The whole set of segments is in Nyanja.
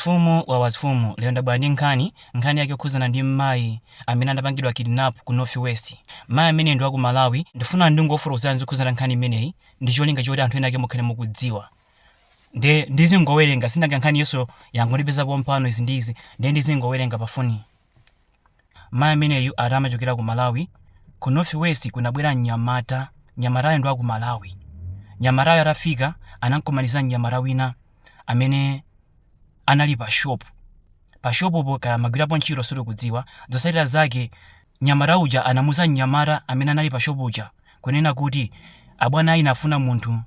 Mfumu wa wa mfumu lero ndabwera ndi nkhani, nkhani yake yokhudzana ndi mmayi amene anapangidwa kidnap ku North West. Mmayi ameneyu ndi wa ku Malawi, ndifuna ndingofotokozerani zokhudzana nkhani imeneyi ndi cholinga choti anthu ena ake mukhale mukudziwa. Nde ndizingowerenga, sindinawerenge nkhani yonse yangondipeza pompano izi ndi izi, nde ndizingowerenga pa foniyi. Mayi ameneyu ati amachokera ku Malawi, ku North West kunabwera mnyamata, mnyamatayo ndi wa ku Malawi. Mnyamatayo atafika anangokumaniza mnyamata wina amene anali pa shop. Pa shopopo kaya amagwirapo ntchito sitikudziwa, zotsatira zake mnyamata uja anamuuza mnyamata amene anali pa shop uja kunena kuti abwana ayi afuna munthu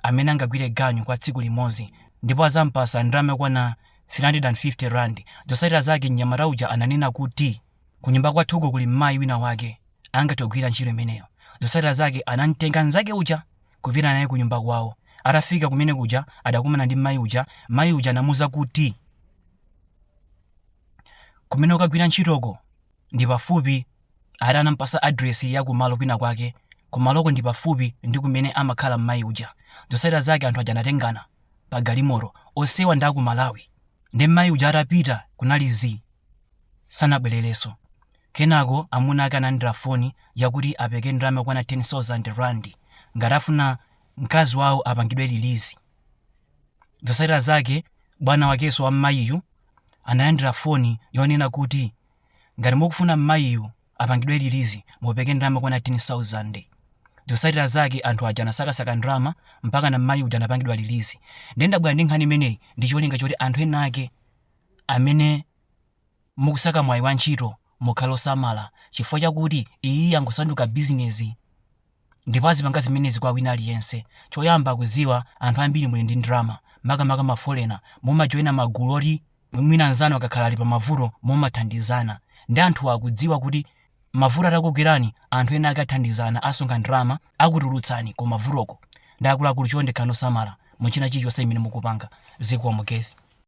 amene angagwire ganyu kwa tsiku limodzi ndipo azampasa ndalama yokwana 350 Rand. Zotsatira zake mnyamata uja ananena kuti, Kunyumba kwathuko kuli mayi winawake angathe kugwira ntchito imeneyo. Zotsatira zake anam'tenga mnzake uja kupita naye kunyumba kwawo. Atafika kumene kuja adakumana ndi mayi uja. Mayi uja anamuuza kuti, Kumene ukagwira ntchitoko? ndi pafupi ati anampasa address ya kumalo kwina kwake kumaloko ndi pafupi ndi kumene amakhala mmayi uja zotsatira zake anthu aja anatengana pa galimoto onsewa ndi aku malawi ndi mmayi uja atapita kunali zii sanabwererenso kenako amuna ake analandira foni yakuti apereke ndalama yokwana 10000 rand ngati afuna mkazi wawo apangidwe release zotsatira zake bwana wakenso wa mmayiyu analandira foni yonena kuti Ngati mukufuna mmayiyu apangidwe release mupereke ndalama yokwana 10,000. Zosatira zake anthu aja anasakasaka ndalama mpakana mmayi uja anapangidwa release. Ndiye ndabwera ndi nkhani imeneyi ndi cholinga choti anthu ena ake amene mukusaka mwayi wa ntchito mukhale osamala chifukwa chakuti iyiyi yangosanduka bizinezi. ndipo azipanga zimenezi kwa wina aliyense choyamba akuziwa anthu ambiri muli ndi ndrama makamaka mafolena mumajoina magulu oti mwina mnzanu akakhala ali pamavuto mumathandizana nde anthuwa akudziwa kuti mavuto atakugwerani anthu ena ake athandizana asonkha ndrama akutulutsani ku mavutoko nde akuluakulu chonde khalani osamala muchina chilichonse chimene mukupanga zikomo guys